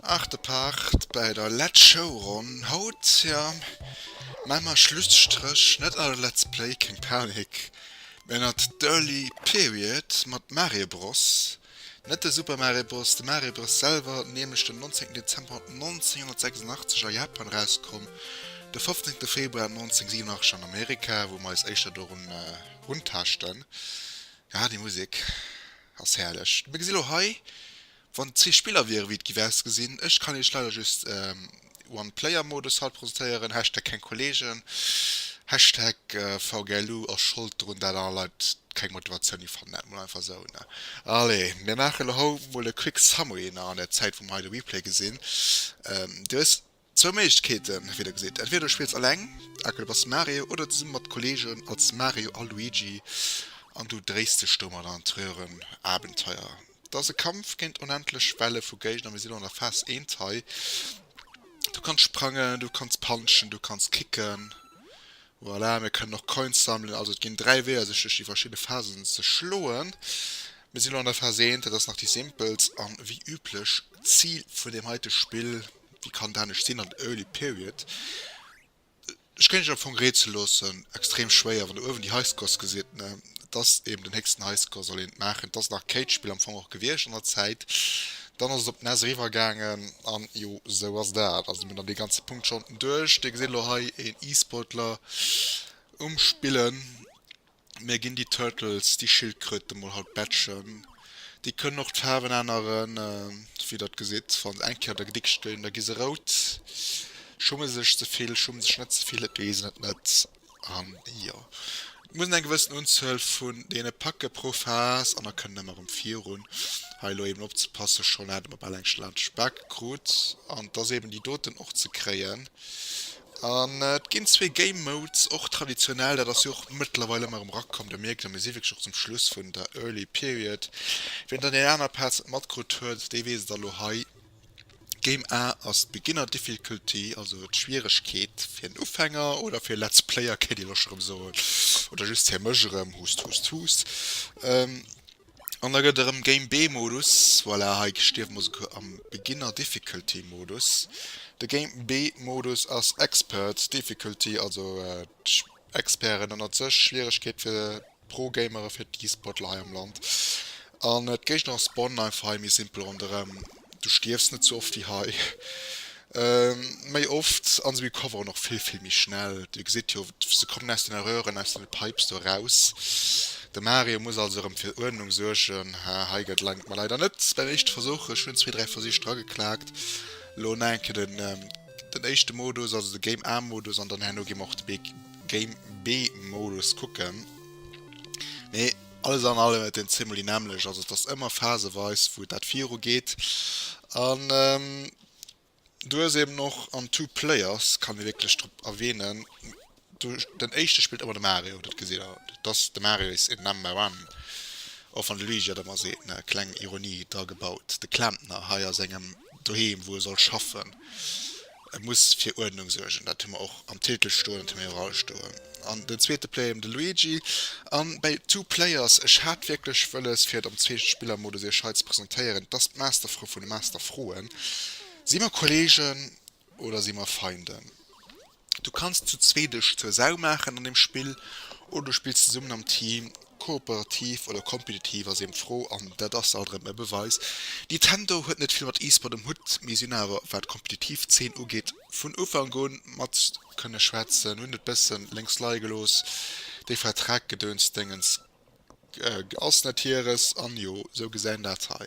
Achte Part bäi der Letz Showronn haut, jo mä mer Schlusstréch net an de Let's Play, keng Panik, mä an d'Early Period mat Mario Bros. Net de Super Mario Bros. De Mario Bros. Selwer, nämlech den 19 Dezember 1986 a Japan erauskomm, de 15 Februar 1987 an Amerika, wou mer eis éischter dorun runtaaschten. Ah, déi Musek ass herrlech! Mir gesi lo hei, wann zwee Spiller wieren, wéi et géif ausgesinn. Ech kann Iech leider just. One-Player-Modus haut presentéieren, Hashtag keng Kollegen, Hashtag VGLU ass Schold drun dat aner Leit keng Motivatioun hir fannen, dat mol einfach esou ne. Allez, mir maachen elo hou mol e quick summary nach an der Zäit wou mer hei de Replay gesinn. Du hues zwou Méiglechkeeten, wéi der gesitt, entweder du spills alleng, aka du bass Mario, oder zesumme mat Kollegen als Mario a Luigi an du dréis dech domadder an d'Röhrenabenteuer. 't ass e Kampf géint onendlech Welle vu Géigner. Mir sinn elo an der Phase eent hei. Du kanns sprangen, du kanns punchen, du kanns kicken. Voilà, mir kënnen och Coins sammelen. Also et ginn dräi Weeër sech duerch déi verschidde Phasen ze schloen. Mir sinn elo an der Phase eent, dat ass nach déi simpelst an wéi üblech d'Zil vun deem heite Spill, wéi kann et anescht sinn, an der Early Period Ech kéint iech am Fong rätsele loossen, extrem schwéier, wann der uewen déi Highscores gesitt, ne, et ass eeben den héchsten Highscore soll een et maachen, et ass nach Kate-Spill am Fong och gewiescht an der Zäit, dann ass et op d'Ness eriwwer gaangen an jo esou ass dat. Also mir hunn dann dee ganze Punkt schonn duerch. Dir gesitt elo hei een E-Sportler um spillen. Mir ginn déi Turtles, déi Schildkröte mol haut Badgen. Déi kënnen och d'Faarwen änneren, wéi der gesitt. Wa se eng Kéier der Dickst ginn, da gi se rout. Schumme sech ze vill, schumme sech net ze vill, dat weess et net. An jo, et muss een eng gewëssen Unzuel vun deene packe pro Phas an da kënnen ëmmer erëm virun. Hei elo eben opzepassen, schonn haten mer bal eng Schladdeschbake krut an et ass eben déi doten och ze kréien. An et ginn zwee Game Modes, och traditionell, dat ass jo och mëttlerweil ëmmer erëm erakomm, da mierkt een, mir si wierklech och zum Schluss vun der Early Period. Wien der déi aner Pads net matkrutt huet, dee weess et elo hei, Game A ass d'Beginner Difficulty, also d'Schwieregkeet fir en Ufänger oder fir Let's Player, kéint ee elo scho erëm soen, oder just fir mech erëm, hust, hust, hust. An da gëtt erëm Game B Modus, voilà hei stierwe mer souguer am Beginner Difficulty Modus. De Game B Modus ass Expert Difficulty, also Experten ënnert sech, Schwieregkeet fir Pro Gamere, fir d'E-Sportler hei am Land. An d'Géigner spawnen einfach hei méi simpel ronderëm. Du stierfs net sou oft wéi hei. Méi oft an se recoveren och vill vill méi schnell. Dir gesitt jo, se kommen aus den Röhren, aus den Pipes do eraus. De Mario muss also erëm fir Uerdnung suergen. Haa, hei gëtt laang, et mer leider net beim éischte Versuch. Ech hunn zwee, dräi Versich dra geklaakt. Elo nach eng Kéier den den éischte Modus, also de Game A Modus an dann herno gi mer och de Bee Game B Modus kucken. Mee. Alles an allem et een zimmeli nämmlech, also et ass ëmmer phaseweis wou dat viru geet an du hues eben och an two players kann ee wierklech drop erwähnen du den éischte spillt ëmmer de Mario dat gesäit der et ass de Mario is in number one och wann de Luigi dat ëmmer seet ne kleng Ironie dra gebaut de Klempner hei a sengem doheem, wou e soll schaffen. E muss fir Uerdnung suergen, dat hu mer och am Titel stoen, dat hu mer iwwerall stoen. An den zweete Player, de Luigi. An bei Two Players, ech hat wierklech wëlles, fir et am Zweespillermodus iech hei ze presentéieren, et ass d'Masterfro vun de Masterfroen. Si mer Kolleegen? Oder si mer Feinden? Du kanns zu zwee dech zur Sau maachen an dem Spill, oder du spills zesummen am Team, kooperativ oder kompetitiv ass eben d'Fro, an dat ass alt erëm e Beweis. Nintendo huet net vill mat E-Sport um Hutt, mee sinn awer wat kompetitiv Zeen ugeet vun Ufank un mat kënne schwätzen. Hunn et bëssen lénks leie gelooss, déi Vertrag-Gedöns-Déngens. Ass net hieres an jo sou gesäin daat hei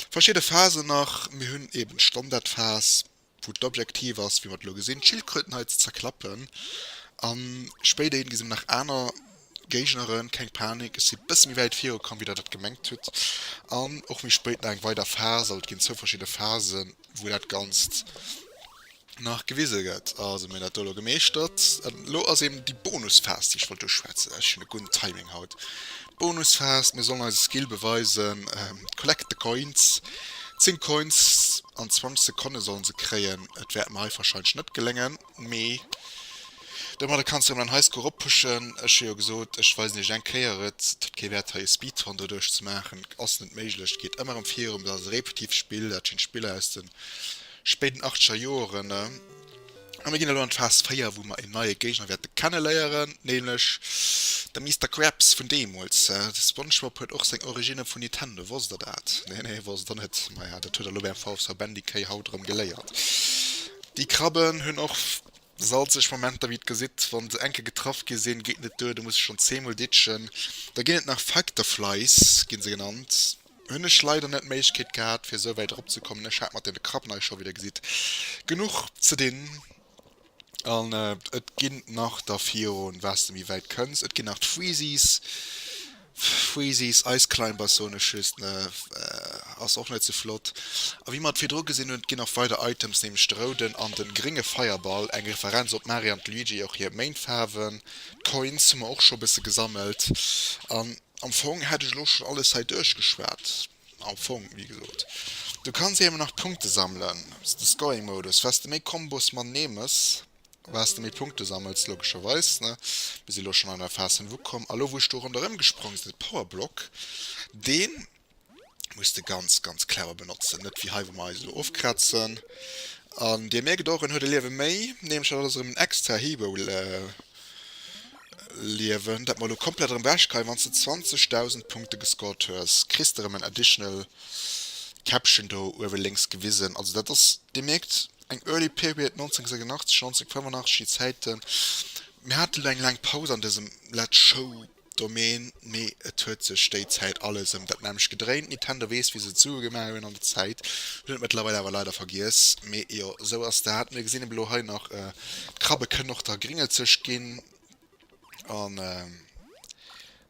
verschidden Phasen nach. Mir hun eben d'Standardphas wou d'Objektiv ass wéi mer et elo gesin d'Schildkröten hei ze zerklappen an spéider gesi mer nach aaner Géigneren. Keng Panik ech si bessen méi wäit viru komm wéi der dat gemengt hut an och méi spéit nach eng weider Phas. Also et gin zwou verschidden Phasen wou daat ganzt. nach gewise gëtt. Also mir dat do elo gemeeschtert. Elo ass eben déi Bonusphas déi ech wollt uschwätzen. Ech hunn e gudden Timing haut. Bonusphas, mir sollen eise Skill beweisen. Collect the coins, 10 Coins an 20 Sekonne sollen se kréien. Et wäert mer hei warscheinlech net geléngen, mee domadder kanns de jo mäin Highscore erop pushen. Ech hu jo gesot, ech weisen iech et eng Kéier. Et huet kee Wäert hei e Speedrun doduerch ze maachen, ass net méiglech. Et geet ëmmer erëm virun, dat ass e repetitivt Spill, dat schéint d'Spiller aus de. spéiden achtzeger Joeren, a mir ginn elo an d'Phas 4, wou mer een neie Géigner wäerte kenneléieren, nämlech de Mister Krabs vun deemools. De Spongebob huet och seng Originne vun Nintendo, wosst der dat? Nee, nee, wosst der net? Maja, dat huet der elo beim VV Bandy-Kay haut erëm geléiert. Déi Krabben hunn och. Salzeg Momenter wéi et gesitt wann se enke getraff gi sinn, geet net duer, do muss ech schonn zeemol ditschen. Da ginn et nach Facteflies gi se genannt, hunn ech leider net d'Méiglechkeet gehat fir esou wäit erop ze kommen, ech hat mat deene Krabben hei scho wéi der gesitt genuch ze dinn. An et ginn nach da virun waars de méi wäit kënns, et ginn nach d'Freezies. Freezies Ice Climbers soen ech just, ass och net sou flott. A wéi mer et virdru gesinn hunn, et ginn nach weider Items, nämlech de rouden an de grénge Feierball, eng Referenz op Mario an Luigi, och hir Méintfaarwen. D'Coins hu mer och scho e bësse gesammelt. An am Fong hätt ech elo schonn alles hei duerchgeschwat. Am Fong, wéi gesot, du kanns émmer nach Punkte sammelen, de Scoring-Modus, wars de méi Kombos man nemes. Wars de méi Punkte sammels, logescherweis, ne? Mir si lo schonn an der Phas vun Wupp komm. A lo wou ech do ronderëm gesprong sinn, et Powerblock, dee muss de ganz, ganz clever benotzen, net wéi hei wou mer eis elo ofkrazen. An Dir mierkt och, en huet e Liewe méi, nämlech dat ass erëm en extra Hibo-Liewen, dat mer elo komplett erëm wechkreien. Wann s de 20.000 Punkte gescored hues, kriss s de erëm en additional Käppchen do uewe lénks gewisen. Also dat ass, Dir mierkt, Eng Early Period 1986, 1985 déi Zäiten. Mir hate lo eng laang Paus an dësem Let's Show Domaine, mee et huet sech déi Zäit alles ëm dat nämlecht gedréint. Nintendo weess wéi se et Sue gemaach hunn an der Zäit, hunn et mëttlerweil awer leider vergiess, mee jo, esou ass dat. Mir gesinn ebe lo hei nach d'Krabbe kënnen och der Gringel-Zëscht ginn, An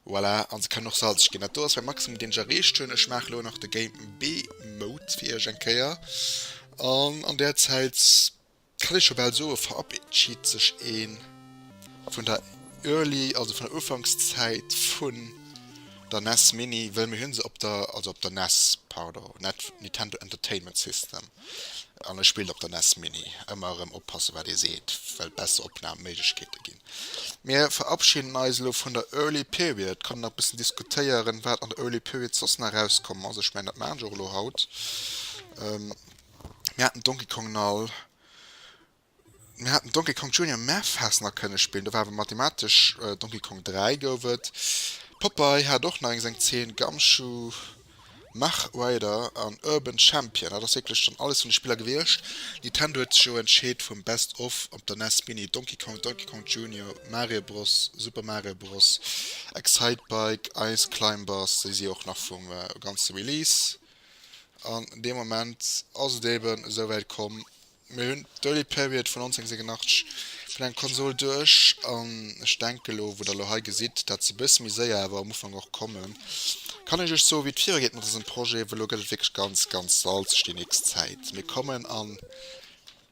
voilà, an se kënnen och salzeg ginn. Dat do ass mäi Maximum deen ech erreecht hunn. Ech maache lo nach de Game B Mode fir iech eng Kéier. An an där Zäit kann ech scho bal soe verabscheet sech ee vun der Early, also vun der Ufankszäit vun der nes Mini, well mir hu se op der, also op der nes, pardon, net Nintendo Entertainment System. An e spillt op der nes mini. Ëmmer erëm oppassen wat ee seet, well besser Opnam Méiglechkeete ginn. Mir verabschiden eis elo vun der Early Period, kann een nach bëssen diskutéieren wat an der Early Period soss nach erauskomm ass. Ech mengen dat maachen ech och elo haut. Mir haten Donkey Kong Null. Mir haten Donkey Kong Junior Mafaz nach kënne spillen, do war awer mathematesch Donkey Kong 3 gouf et. Popeye hat och nach eng seng Zeen, Gumshoe, Mach Rider an Urban Champion. Dat ass wierklech schonn alles vun de Spiller gewiescht. Nintendo huet sech jo entscheet vum Best of op der nes Mini, Donkey Kong, Donkey Kong Junior, Mario Bros, Super Mario Bros, Excitebike, Ice Climbers, déi si och nach vum ganze Release. An dee Moment ass et eeben esouwäit komm. Mir hunn d'Early Period vun 1987 vun enger Konsol duerch an ech denken elo, wou der elo hei gesitt, dat ass e bësse méi séier awer am Ufank och komm, kann ech iech soe wéi et virugeet mat eisen Projeten, well elo gëtt et wierklech ganz, ganz salzeg déi nächst Zäit. Mir kommen an,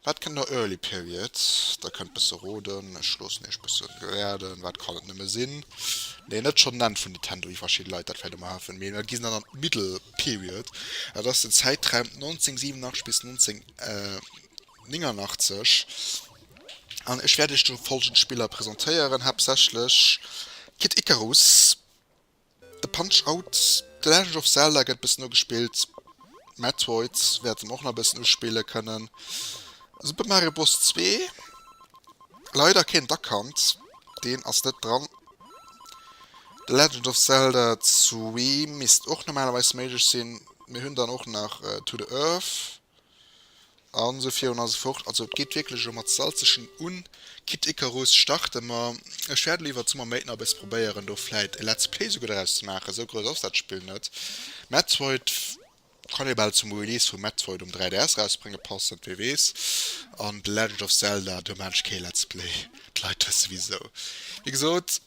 wat kënnt no Early Period? Der kënnt bësse roden, ech loossen iech bësse raden, wat kann et nëmme sinn? Nee, net schonn d'Enn vun Nintendo, wéi verschidde Leit dat vläicht ëmmer hafen, mee mer ginn dann an d'Middle Period, dat ass den Zäitraum 1987 bis 19. 89 an ech wäert Iech do folgend Spiller presentéieren, haaptsächlech Kid Icarus, e Punch-Out, The Legend of Zelda gëtt bëssen ugespillt, Metroid wäerte mer och nach e bëssen uspille kënnen, Super Mario Bros. Zwee, leider keen Duck Hunt, deen ass net dran, The Legend of Zelda Three misst och normalerweis méiglech sinn. Mir hunn dann och nach To the Earth a sou virun a sou fort. Also et geet wierklech elo mat Salzeschen un. Kid Icarus starte mer. Ech wäerten iwwert d'Summer Méint nach e bësse probéieren do vläit e Let's Play souguer draus ze maachen, sou grouss ass dat Spill net. Metroid kann ee bal zum Release vum Metroid um 3DS erausbrénge passen, wee weess. An The Legend of Zelda, do maachen ech kee Let's Play, d'Leit dëst souwisou. Wéi gesot.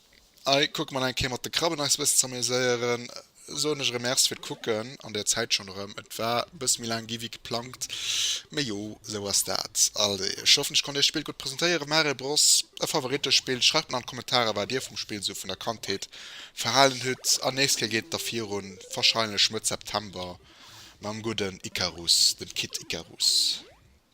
Hei kucke mer eng Kéier mat de Krabben eis e bëssen ze améséieren. Soen ech erëm Merci fir d'Kucken an der Zäit schonn erëm. Et war e bësse méi laang gi wéi geplangt, mee jo, esou ass dat. Allez, ech hoffen, ech konnt Iech d'Spill gutt presentéieren. Mario Bros, e Favorittespill? Schreift mer an d'Kommentare, wat Dir vum Spill sou vun der Kandheet verhalen hutt. An nächst Kéier geet et da virun, wahrscheinlech Mëtt September, mam gudden Icarus, dem Kid Icarus.